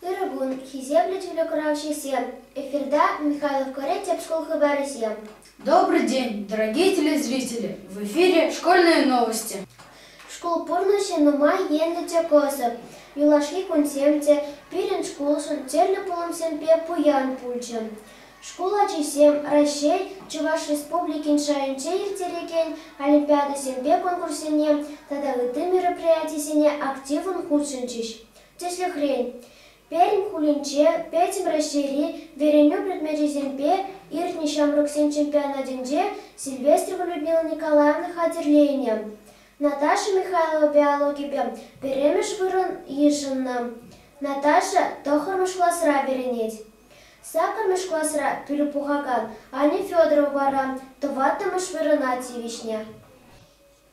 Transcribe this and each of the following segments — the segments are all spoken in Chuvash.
Ырӑ кун, хисеплӗ телеграфҫӑсем! Эфирта Михайловкӑри тӗп шкул хыпарӗсем. Добрый день, дорогие телезрители! В эфире «Школьные новости». Шкул пурнӑҫӗ нумай енлӗ те кӑсӑк. Юлашки кунсем те пирӗн шкулшӑн тӗрлӗ пулӑмсемпе пуян пулчӗ. Шкул ачисем Раҫҫей, Чӑваш Республикин шайӗнче ирттерекен олимпиадӑсемпе конкурссене тата ытти мероприятисене активлӑн хутшӑнчӗҫ. Тӗслӗхрен, Пермь хулинче Пӗтӗм Раҫҫейри вӗренӳ предмечӗсемпе иртнӗ ҫамрӑксен чемпионатӗнче Сильвестрова Людмила Николаевна хатӗрленӗ. Наташа Михайлова биологипе пӗрремӗш вырӑн йышӑннӑ. Наташа тӑхӑрмӗш класра вӗренет. Саккӑрмӗш класра пӗлӳ пухакан Аня Федорова вара тӑваттӑмӗш вырӑна тивӗҫнӗ.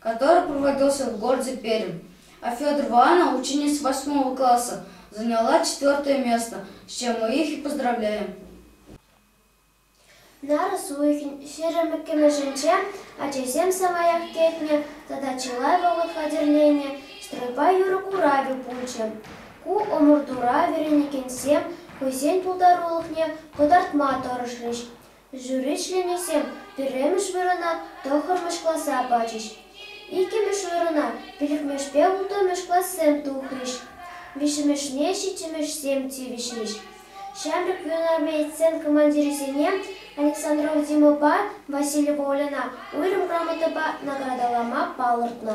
который проводился в городе пермь а федорова анна ученица восьмого класса заняла четвертое место с чем мы их и поздравляем нарӑс уйӑхӗн ҫирӗммӗккӗмӗшӗнче ачасем самаях кӗтнӗ тата чылай вӑхӑт хатӗрленӗ стройпа юрӑ куравӗ пулчӗ ку ӑмӑртура вӗренекенсем хӑйсен пултарулӑхне кӑтартма тӑрӑшрӗҫ Жюри членӗсем пӗрремӗш вырӑна тӑххӑрмӗш класа пачӗҫ. Иккӗмӗш вырӑна пилӗкмӗшпе улттӑмӗш классем тухрӗҫ. Виҫҫӗмӗшне ҫиччӗмӗшсем тивӗҫрӗҫ. Ҫамрӑк юнармей сцен командирӗсене Александр Урдимовпа Василий Волина уйрӑм грамотӑпа наградӑлама палӑртнӑ.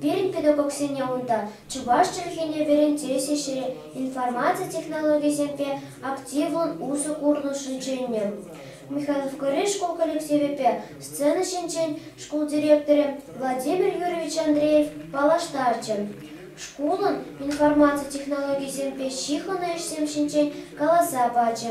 Пирӗн педагогсене унта чӑваш чӗлхине вӗрентес ӗҫре информаци технологийӗсемпе активлӑн усӑ курнӑшӑн чӗннӗ. Михайловкӑри шкул коллективӗпе сцена ҫинчен шкул директорӗ Владимир Юрьевич Андреев паллаштарчӗ. Шкулӑн информаци технологийӗсемпе ҫыхӑннӑ ӗҫсем ҫинчен каласа пачӗ.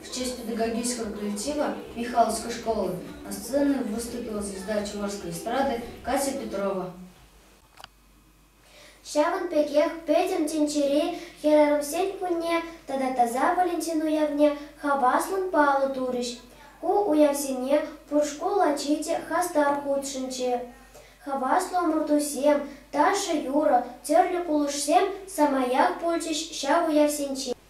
В честь педагогического коллектива Михайловской школы на сцену выступила звезда Чувашской эстрады Катя Петрова. Ҫавӑн пекех Пӗтӗм тӗнчери хӗрарӑмсен кунне тата Таса Валентин уявне хаваслӑн паллӑ турӗҫ. Ку уявсене пур шкул ачи те хастар хутшӑнчӗ. Хаваслӑ ӑмӑртусем, ташӑ-юрӑ, тӗрлӗ кулӑшсем самаях пулчӗҫ ҫав уявсенче.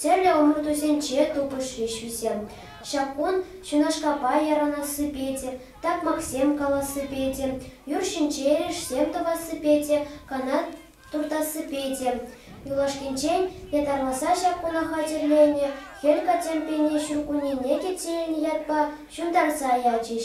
Тӗрлӗ ӑмӑртусенче тупӑшрӗҫ вӗсем. Ҫак кун ҫунашкапа ярӑнассипе те, такмаксем калассипе те, юр ҫинче эрешсем тӑвассипе те, канат туртассипе те. Юлашкинчен ятарласа ҫак куна хатӗрленӗ Хӗл Катемпине ҫуркуннене те тилӗнӗ ятпа ҫунтарса ячӗҫ.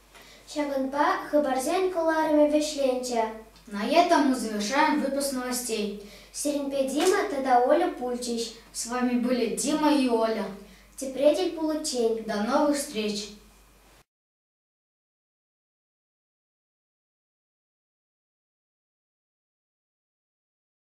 Ҫакӑнпа хыпарсен кӑларӑмӗ вӗҫленчӗ. Наета музейӑша выпуск новостей. Сирӗнпе Дима тата Оля пулчӗҫ. С вами были Дима и Оля. Тепре тӗл пуличчен. До новых встреч!